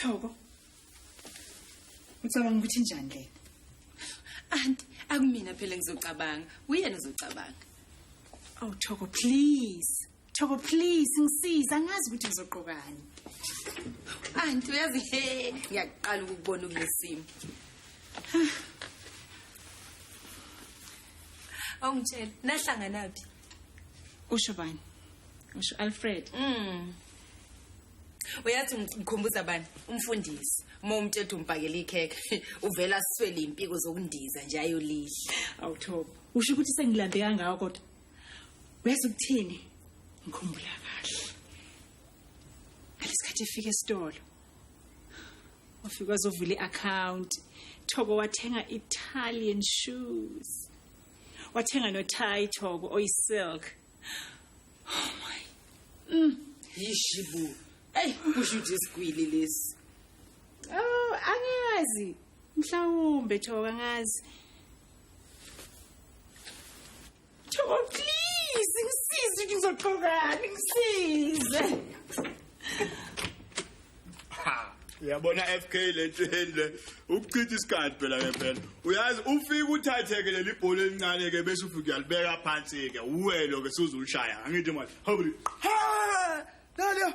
Thoko. Ucabanga ukuthi njani lena? Anti, akumina phela ngizocabanga. Uyena uzocabanga. Oh Thoko, please. Thoko please ngisiza ngazi ukuthi ngizogqokani. Anti uyazi he ngiyaqala ukubona kulesimo. Awungitshela nahlangana phi? Usho bani? Usho Alfred. Mm. Uyathi ngikhumbuza bani? Umfundisi. Uma umthetho umbhakela ikhekhe uvela siswele impiko zokundiza nje ayolidla. Awuthobo. Usho ukuthi sengilambe kangaka kodwa. uyazi ukuthini ngikhumbula kahle ngalesikhathi efika esitolo wafika wazovula i-account thoko wathenga italian shoes wathenga nothai thoko oyisilk oh my mm. yishibu eyi kusho ukuthi isigwili lesi oh angazi mhlawumbe thoko angazi Thobo please ngisize ukuthi ngizoqhokani ngisize. Uyabona FK lento endle ukuchitha isikhathi phela ke phela. Uyazi ufika uthatheke leli bhola elincane ke bese ufika uyalibeka phansi ke. Uwelo ke suzulishaya. Angithi manje. Hobri. Ha! Nalo.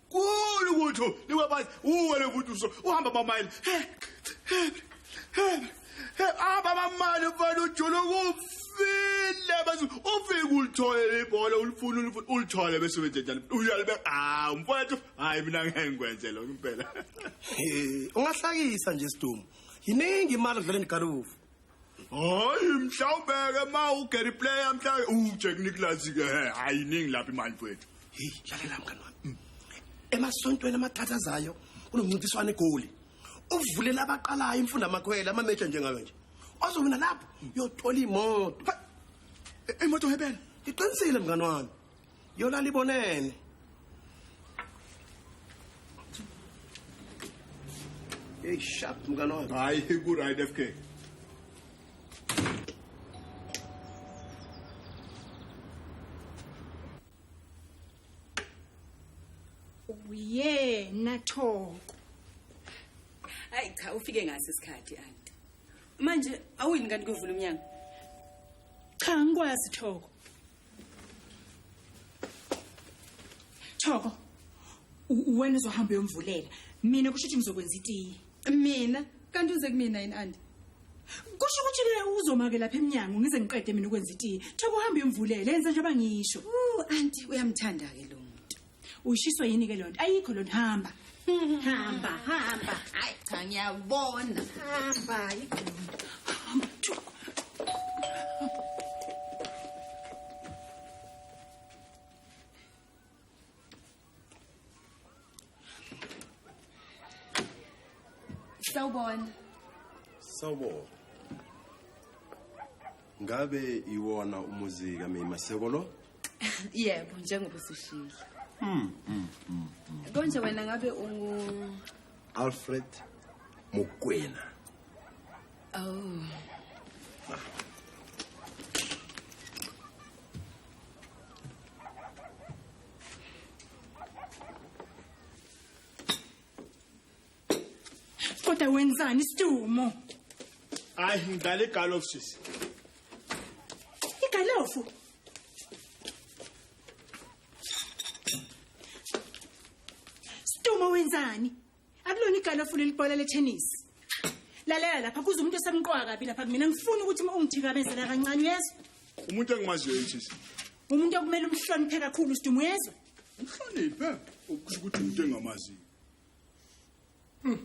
kulu ukuthi niwabazi uwe levuduso uhamba bamayile aba bamali mfana ujula ukufile bese ufike ulithole ibhola ulifuna ulifuna ulithole bese wenze njani uyalibe ah mfowethu hayi mina ngeke ngikwenze lokho impela ungahlakisa nje sidumo yiningi imali odlala endigalufu hayi mhlawumbeke ma ugary player mhla ujack nicholas ke he ayiningi lapha imali mfowethu heyi lalela mngani wami mm. emasontweni amathathu azayo kunomncintiswano egoli uvulela abaqalayo imfunda amakhwela amameja njengayo nje ozowina lapho uyothola imoto imoto hebela iqinisile mngani wami yolala ibonene Hey, sharp mngane wami. Hayi ku right FK. Uyena Thoko. Hayi cha ufike ngase isikhathi anti. Manje awuyini kanti kuvula umnyango? Cha ngikwazi Thoko. Thoko. Wena uzohamba uyomvulela. Mina kusho ukuthi ngizokwenza itiye. Mina kanti uze kumina yini anti? Kusho ukuthi ke uzomake lapha eminyango ngize ngiqede mina ukwenza itiye. Thoko uhamba uyomvulela yenza njengoba ngisho. Uh anti uyamthanda ke lo. Ushiswe yini ke lonto? Ayikho lonto hamba. Hamba, hamba. Hayi cha ngiyabona. Hamba yikho. Sawubona. Sawubona. ngabe iwona umuzi kamei maseko lo yebo njengoba usishilo hmm, hmm, hmm, konje wena ngabe ungu alfred mokwena oh kodwa wenzani isitumo hayi ngidlala igalofu sisi igalofu Uma wenzani? Akulona igalo ofuna ilibhola letennis. Lalela lapha kuze umuntu osemqoka kabi lapha mina ngifuna ukuthi uma ungithikabezela kancane uyezwa. Umuntu engimaziyo yinjisi. Umuntu okumele umhloniphe kakhulu usiduma uyezwa. Umhloniphe ukusho ukuthi umuntu engamaziyo. Hmm.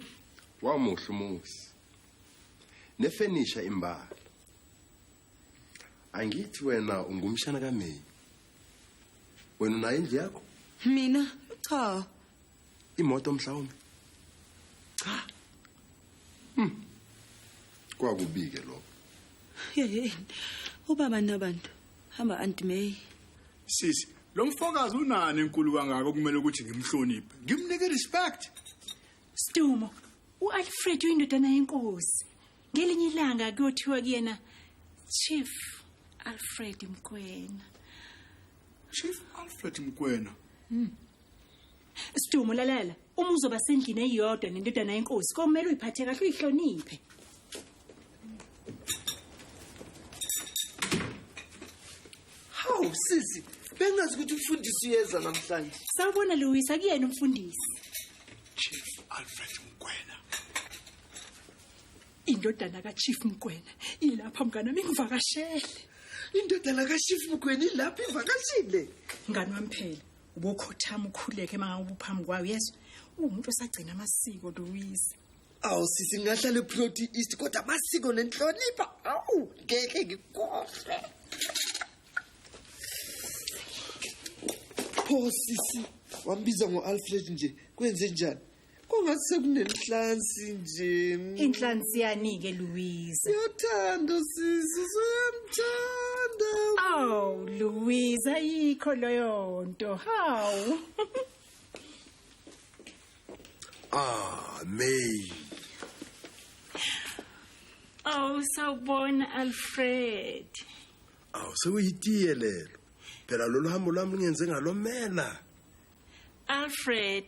Wamuhle umuzi. Nefenisha imbala. Angithi wena ungumshana kaMeyi. Wena unayo indlu yakho? Mina cha. Imoto mhlawumbe. Cha. Hmm. Kwakubike lokho. Yeyeni. Ubaba nabantu. hamba aunt may sisi lo mfokazi unani enkulu kangaka okumele ukuthi ngimhloniphe ngimnike respect stumo ualfred uyindodana yenkosi ngelinye ilanga kuyothiwa kuyena chief alfred mkwena chief alfred mkwena mm. stumo lalela uma uzoba sendlini eyodwa nendodana yenkosi komele uyiphathe kahle uyihloniphe hawu sisi bengazi ukuthi umfundisi uyeza namhlanje sawubona lewisa kuyena umfundisi chief alfred mgwena indodana kachief mgwena ilapha mngane wami ngivakashele indodana kachief mgwena ilapha ivakashile mngane wami phela ubokhothama ukhuleke uma ngabe ubuphambi kwayo yezwa uwumuntu osagcina amasiko lewisa awu sisi ngingahlala eproti east kodwa amasiko nenhlonipha awu ngeke ngikhohlwe pho sisi wambiza ngo-alfred nje kwenze njani kungathi sekunenhlansi nje inhlansi yani-ke louise uyathanda sisi usuyamthanda awu louise ayikho leyo nto hawu Ah, May. Oh, sawubona Alfred. Awu sekuyitiye lelo. Phela lolu hambo lwami ngenze ngalomela. Alfred,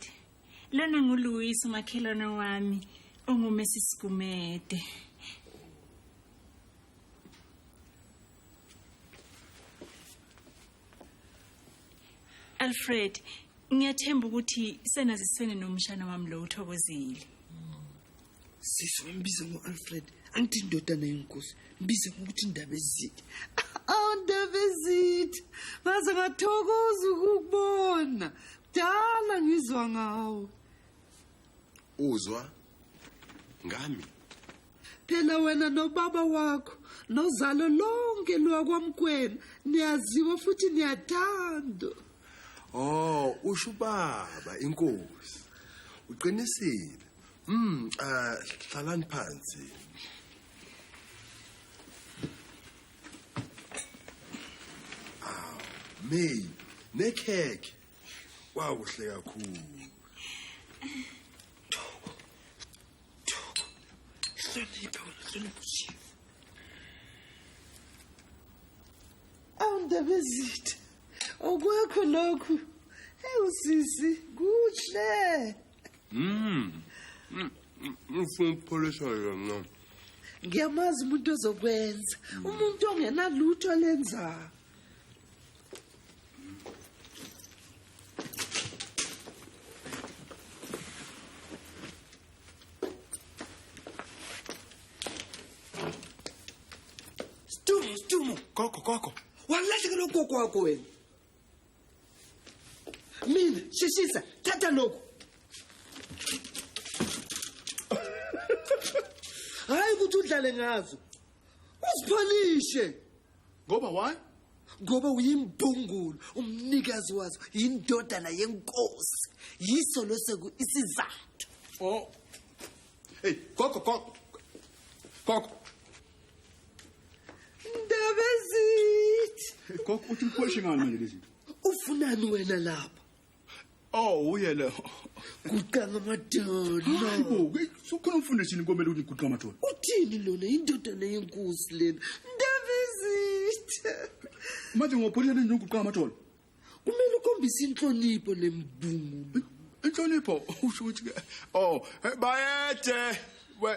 lona nguLuis umakhelwane wami ongumesi Sigumede. Alfred ngiyathemba ukuthi senaziswene nomshana wami lo uthokozile sisi mbize ngo-alfred angithi indodana yenkosi mbize ngokuthi indaba ezithe awundaba ezithe ngaze ngathokoza ukukubona kudala ngizwa ngawo uzwa ngami phela wena nobaba wakho nozalo lonke lwakwamkwena niyaziwa futhi niyathandwa oh usho ubaba inkosi uqinisile mm uh, hlalani phansi aw may nekhekhe kwakuhle kakhulu awundabezitha okwakho lokhu ewu sisi kuhle mm ngifuna ukupholisa yona ngiyamazi umuntu ozokwenza umuntu ongenalutho lenzayo Stumu, stumu. Gogo, gogo. Walahlekelwa ugogo wakho wena. Mina, sheshisa, thatha lokhu. Hayi ukuthi udlale ngazo. Usiphalishe. ngoba why ngoba uyimbungulu umnikazi wazo yindodana yenkosi yiso loseku isizathu oh hey gogo gogo gogo ndabezithi gogo uthi uphoshe ngani manje lezi ufunani wena lapha Oh uye lo. Guqanga amadolo. Hayibo, ukhona umfundisi yini komele ukuthi guqa amadolo? Uthini lona indodana yenkosi lena? Ndavizitha. Manje ngopholela nje uguqa amadolo. Kumele ukhombise inhlonipho nembungu. Inhlonipho usho ukuthi ke oh bayede we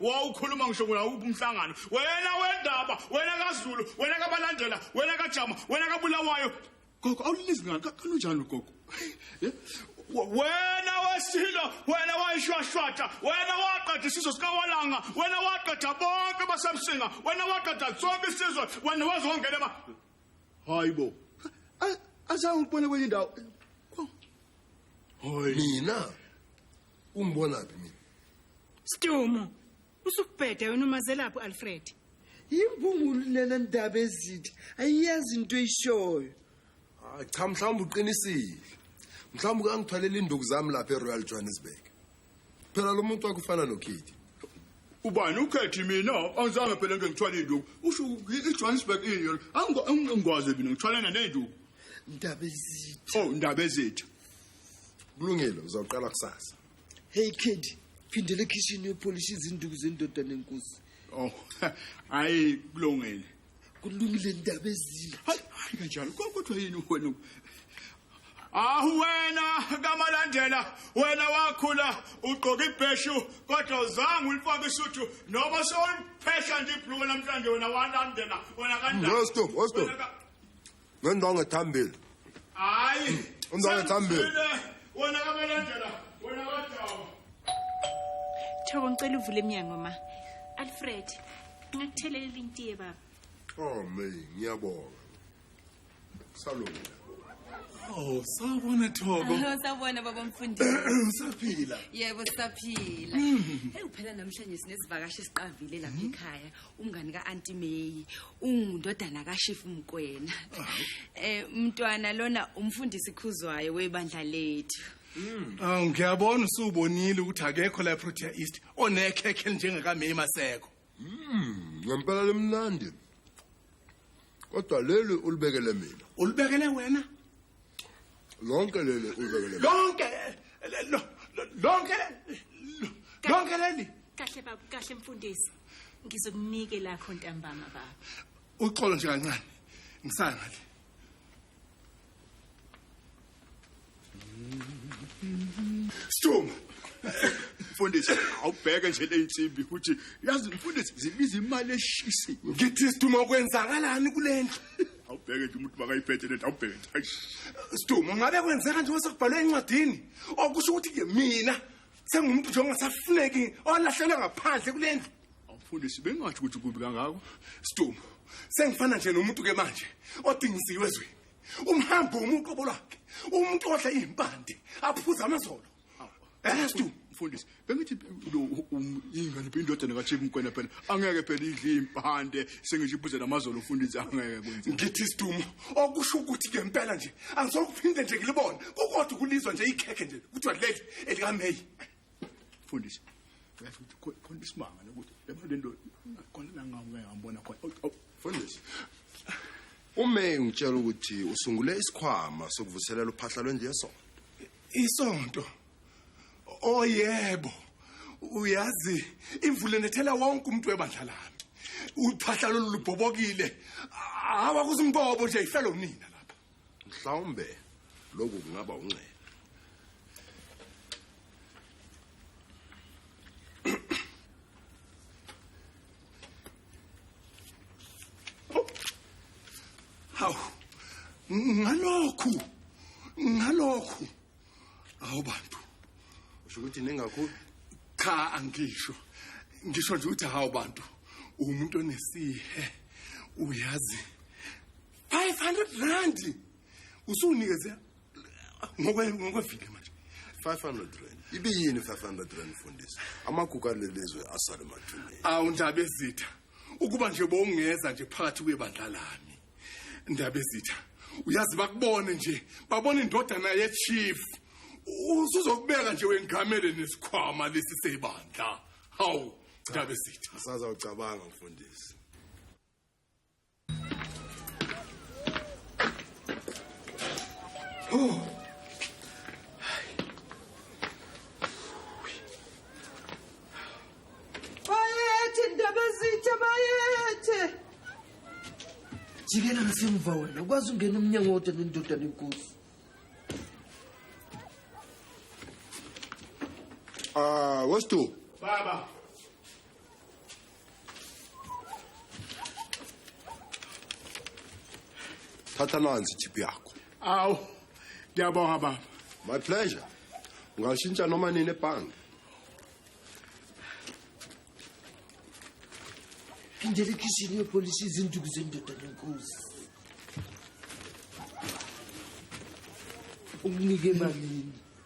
wawukhuluma ngisho ngawuphi umhlangano wena wendaba wena kazulu wena kabalandela wena kajama wena kabulawayo gogo awulilizwi ngani kanunjani ugogo eh? wena wesilo wena wayishwashwatha wena waqeda isizwe sikawalanga wena waqeda bonke basemsinga wena waqeda sonke isizwe wena wazongena ma hayi bo azange ukubone kwenye indawo hayi mina ungibona phi mina Stumo usukubhede wena umazelaphi Alfred Yimbungulu lena ndaba ezithi ayiyazi into eyishoyo ah, cha mhlawumbe uqinisile mhlawumbe kangithwalela induku zami lapha eRoyal Johannesburg phela lo muntu wakufana noKithi ubani ukhethi mina angizange phela into ngithwala induku usho iJohannesburg ini angikwazi mina ngithwalana nenduku ndaba ezithi oh ndaba ezithi kulungile uzawuqala kusasa hey kid phindela ekhishini yopolisha izinduku zendoda nenkosi oh hayi kulungile kulungile ndaba ezile hayi kanjalo kodwa yini wena ahu wena kamalandela wena wakhula ugqoka ibheshu kodwa uzange ulifake isuthu noma sewuliphesha nje ibhluko namhlanje wena walandela wena kanjani stop stop ngendongo ethambile hayi undongo ethambile wona abalandela wona abadaba thobo ngicela uvule emnyango ma alfred ngakuthelelela intiye baba oh me ngiyabonga salungile Oh, sawubona Thoko. Hello, sawubona baba mfundisi. Usaphila? Yebo, sisaphila. Hmm. Hey, uphela namhlanje sinesivakashi siqavile lapha hmm. ekhaya. umngani ka-anti meyi ungundodana kashifu mkwena um eh, mntwana lona umfundisi khuzwayo webandla lethu hmm. awu ngiyabona usuwubonile ukuthi akekho la eprotea east onekhekhe elinjengakameyi maseko hmm, ngempela limnandi kodwa leli ulibekele mina ulibekele wena lonke leli uzekele lonke lonke lonke leli kahle baba kahle mfundisi ngizokunike lakho ntambama baba uxolo nje kancane ngisaya ngale Stuma mfundisi awubheke nje leyinsimbi ukuthi yazi mfundisi zibiza imali eshisiwe ngithi siduma kwenzakalani kulendlu awubheke nje umuntu makayiphethe lento awubheke nje Eish. Sidumo ngabe kwenzeka nje osekubhalwe encwadini okusho ukuthi ke mina sengumuntu nje ongasafuneki olahlelwe ngaphandle kule ndlu mfundisi bengathi ukuthi kubi kangako Sidumo sengifana nje nomuntu ke manje odingisiwe ezweni umhambo umuntu obolwakhe umuntu odla izimpande aphuza amazolo Estu mfundisi bengithi lo um, ingane indodana kaCheku mkwena phela angeke phela idli impande sengisho ibuze namazolo mfundisi angeke kwenze ngithi sidumo okusho ukuthi ke impela nje angizokuphinde nje ngilibone kukodwa kulizwa nje ikhekhe nje kuthiwa leli elikaMay mfundisi uyazi ukuthi khona isimanga nokuthi laba lento khona la ngawe ngambona khona oh, oh, mfundisi uMay ngitshela ukuthi usungule isikhwama sokuvuselela uphahla lwendlu yesonto Isonto. Oyebo. Oh, Uyazi imvula nethela wonke umuntu webandla lami. Uphahla lolu lubhobokile. Hawa kusimbobo nje ifelo nina lapha. Mhlawumbe lokhu kungaba unxele. hawu ngalokhu ngalokhu awu bantu usho ukuthi ningakhulu cha angisho ngisho nje ukuthi hawu bantu umuntu onesihe uyazi 500 rand usunikeze ngokwevile manje 500 rand ibiyini 500 rand mfundisi amagugu alelizwe asale mathuneni awu ndaba ezitha ukuba nje bowungeza nje phakathi kwebandla lami ndaba ezitha uyazi bakubone nje babona indodana yechief usuzokubeka nje wengamele nesikhwama lesi sebandla hawu ndaba ezitha sazawucabanga mfundisi Bayethe ndaba zithe bayethe. jikela ngasemva wena ukwazi ungena umnyango wodwa nendoda nenkosi Ah, wesithu. Baba. thatha nansi ithiphu yakho awu ngiyabonga baba my pleasure ungashintsha noma nini ebhange phindela ekhishini yopolishi izinduku zendoda nenkosi ukunike emalini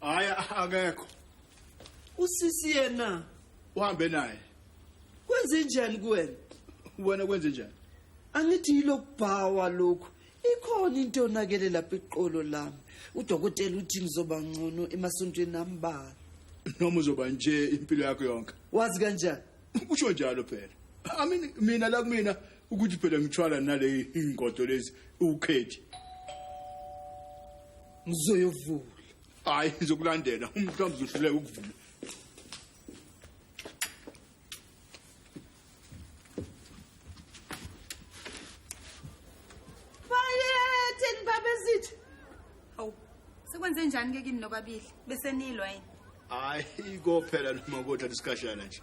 hayi akekho usisi yena uhambe naye kwenze njani kuwena wena kwenze njani angithi yilokubhawa lokhu ikhona into onakele lapha iqolo lami udokotela uthi ngizoba ngcono emasontweni ambalwa noma uzoba nje impilo yakho yonke wazi kanjani usho njalo phela amini mina la kumina ukuthi phela ngithwala nale ingodo lezi ukhethi ngizoyovula hayi ngizokulandela umhlawumbe uzohluleka ukuvula bayetheni babezithu hawu sekwenze njani ke kini nobabili besenilwa yini hayi kophela noma kodwa lesikhashana nje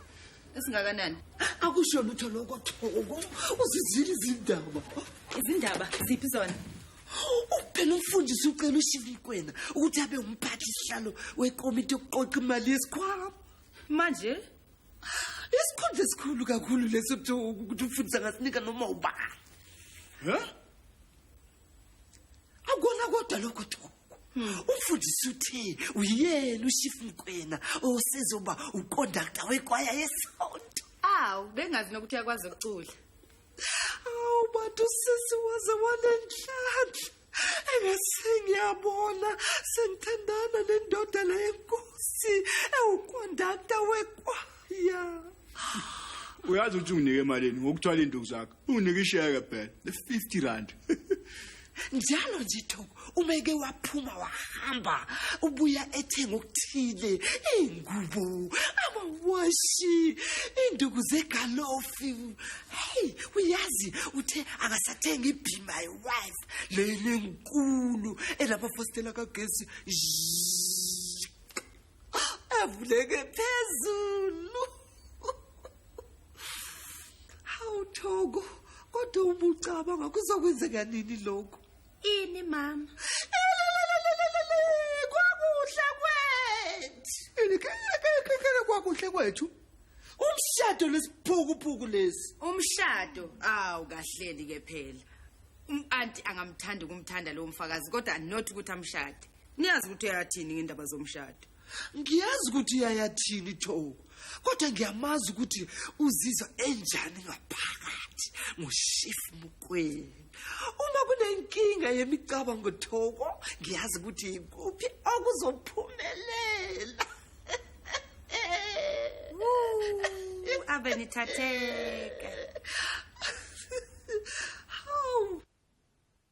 esingakanani akusho lutho lokho thoko uzizile izindaba izindaba ziphi zona uphela umfundisi ucela ushivikwena ukuthi abe umphathi sihlalo wekomiti yokuqoqa imali yesikhwama manje isikhundla esikhulu kakhulu leso ukuthi umfundisi angasinika noma ubani akona kodwa lokho duku umfundisi uthe uyena ushifu mkwena osezoba ukondakta wekwaya yesonto awu bengazi nokuthi uyakwazi ukucula awu bantu sisi waze wanenhlanhla engasengiyabona sengithandana nendoda le yenkosi ewukondakta wekwaya uyazi ukuthi unginike emalini ngokuthwala induku zakho unikisheke phela le 50 rand njalo nje thoko uma eke waphuma wahamba ubuya ethenga okuthile ingubo amawashi induku zegalofi hey uyazi uthe akasathenga ibe my wife leyini enkulu elabafostela kagesi avuleke phezulu hawu thoko kodwa ubucabanga kuzokwenzeka nini lokhu ini mama kwakuhle kwethu kwakuhle kwethu umshado lesiphukupuku lesi umshado awu kahleli ke phela umanti angamthanda ukumthanda lowo mfakazi kodwa not ukuthi amshade niyazi ukuthi uyayathini ngendaba zomshado ngiyazi ukuthi uyayathini thoko kodwa ngiyamazi ukuthi uzizwa enjani ngaphakathi ngoshif mukweni uma kunenkinga yemicabango thoko ngiyazi ukuthi ikuphi okuzophumelela ave nithatheka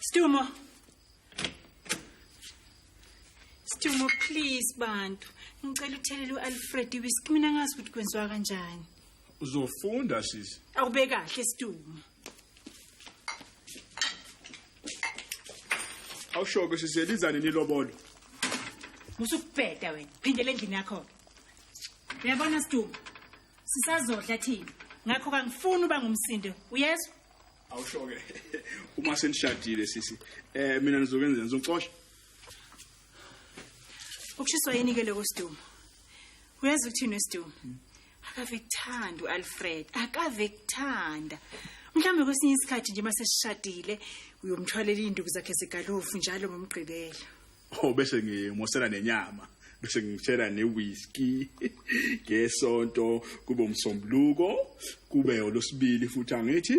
Stumo. Stumo please bantu. Ngicela uthelele uAlfred whisky mina ngazi ukuthi kwenziwa kanjani. Uzofunda sisi. Awube kahle Stumo. awushoke sizelizane nilobolo musukubheda wena phindele endlini yakho-ke uyabona sidumbu sisazodla thina ngakho kangifuni uba ngumsindo uyezwa awushoke uma senishadile sisi eh mina nizokwenza ngizocosha ukushiswa yini ke lokho siduma uyazi ukuthini wesiduma akave kuthanda u-alfred akave kuthanda mhlawumbe kwesinye isikhathi nje uma sesishadile uyomthwalela iy'nduku zakhe zegalofu njalo ngomgqibelo o oh, bese ngimosela nenyama bese ngitshela ne-whisky ngesonto kube umsombuluko kube olosibili futhi angithi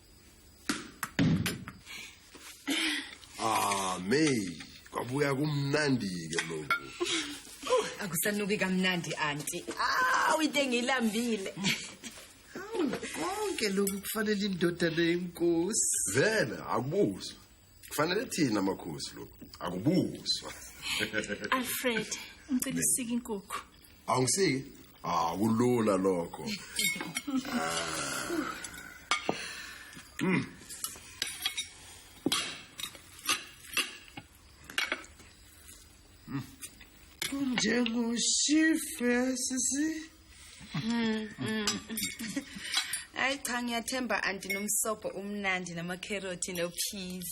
Ah, May, kwabuya kumnandi-ke lokhu. akusanuki kamnandi anti awu into engiyilambile Konke lokhu kufanele indodana yenkosi. Vele akubuzwa. kufanele thina amakhosi lo akubuzwa alfred ngicela isike inkukhu awungisiki akulula ah, lokho mm. Njengoshife sisi. Mm. mm. Hayi cha ngiyathemba anti nomsobo umnandi nama carrot no peas.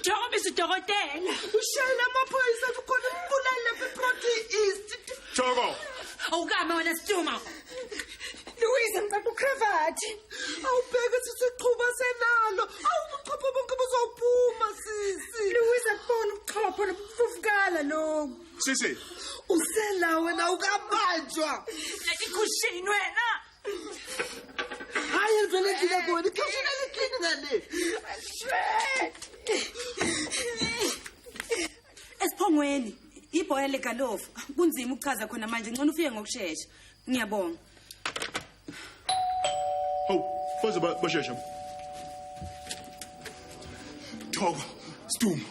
Njengoba isidokotela ushayela amaphoyisa kukhona umbulali lapha eProtea East. Joko. Awukame wena Stuma. Louise ngicela ukravati. Awubheke sithi uqhuba senalo. Awubuchopho bonke buzophuma sisi. Louise akubona ubuchopho lobufukala lokho. Sisi. Usela wena ukabanjwa. Lethi khushini wena. Hayi ngicela ngicela khona ikhashini alikhini ngane. Esiphongweni ibhoya legalofu kunzima ukuchaza khona manje ngcono ufike ngokushesha. Ngiyabonga. Hawu, baze bashesha. Thoko, Sdumo.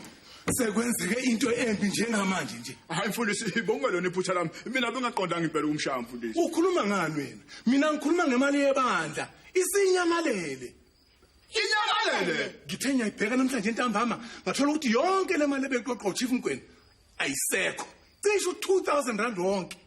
sekwenzeke into embi njengamanje nje hayi mfundisi ibonga lona iphutha lami mina bengaqondanga impela ukumshaya mfundisi ukhuluma ngani wena mina ngikhuluma ngemali yebandla isinyamalele inyamalele ngithe ngiyayibheka namhlanje entambama ngathola ukuthi yonke le mali ebeqoqwa uchief mgweni ayisekho cishe u-2000 rand wonke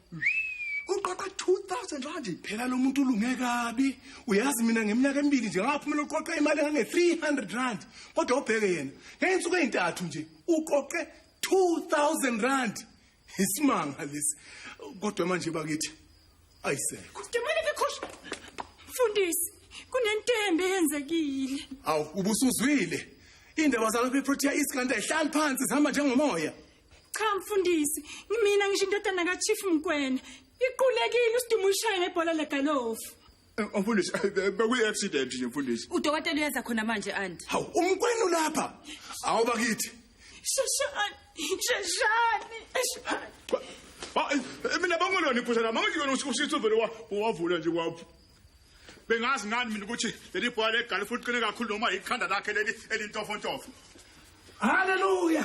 uqoqa 2000 rand phela lo muntu ulunge kabi uyazi mina ngeminyaka emibili nje ngaphumela uqoqa imali engange-300 rand kodwa ubheke yena ngeyinsuku ezintathu nje uqoqe 2000 rand isimanga lesi kodwa manje bakithi ayisekho Demane bekhosh mfundisi kunentembe eyenzekile awu ubusuzwile indaba zalapha eprotea east kanti ayihlali phansi zihamba njengomoya cha mfundisi ngimina ngisho indodana kachief mkwena iqulekile usidumo ulishaye ngebhola legalofu eh, mfundisi eh, eh, bekuyi-accident nje mfundisi udokotela uyenza khona manje anti hawu umkwenu lapha hawu bakithi sheshani sheshani mina bangolona iphusha lami angithi yona usisi uvele wavula nje kwapho bengazi ngani mina ukuthi leli bhola legalofu liqine kakhulu noma yikhanda lakhe leli elintofontofo haleluya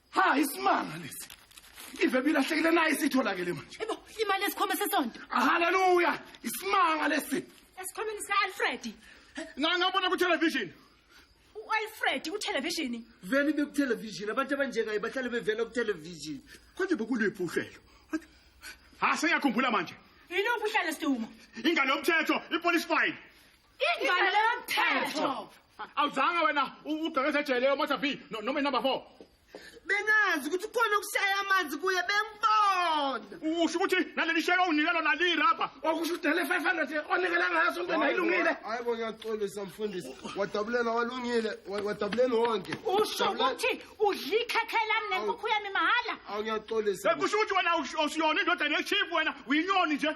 ha isimanga lesi ive bilahlekile naye sitholakele manje ebo imali esikhoma sesonto haleluya isimanga lesi esikhomeni sika-alfred ngangabona kutelevision u-alfred kuthelevishini vele ibe kutelevision abantu abanjengaye bahlale bevela kutelevision konje bokuliphi uhlelo ha sengiyakhumbula manje yiluphi uhlelo siduma ingane yomthetho ipolice file Ingane leyo mthetho. Awuzanga wena ugqekeza ejele yo Mother B no- noma number 4. Bengazi ukuthi khona okushaya amanzi kuye bengibona. Usho ukuthi naleli sheke unike lona li rubber. Okusho udele 500 onikela ngaso into ayilungile. Hayi bo ngiyaxolisa mfundisi. Wadabulela walungile, wa- wadabulela wonke. Usho Wadabulela- ukuthi udla ikhekhe lami nenkukhu yami mahhala. Awu ngiyaxolisa. Kusho ukuthi wena awus- awusiyona indoda nechief wena uyinyoni nje.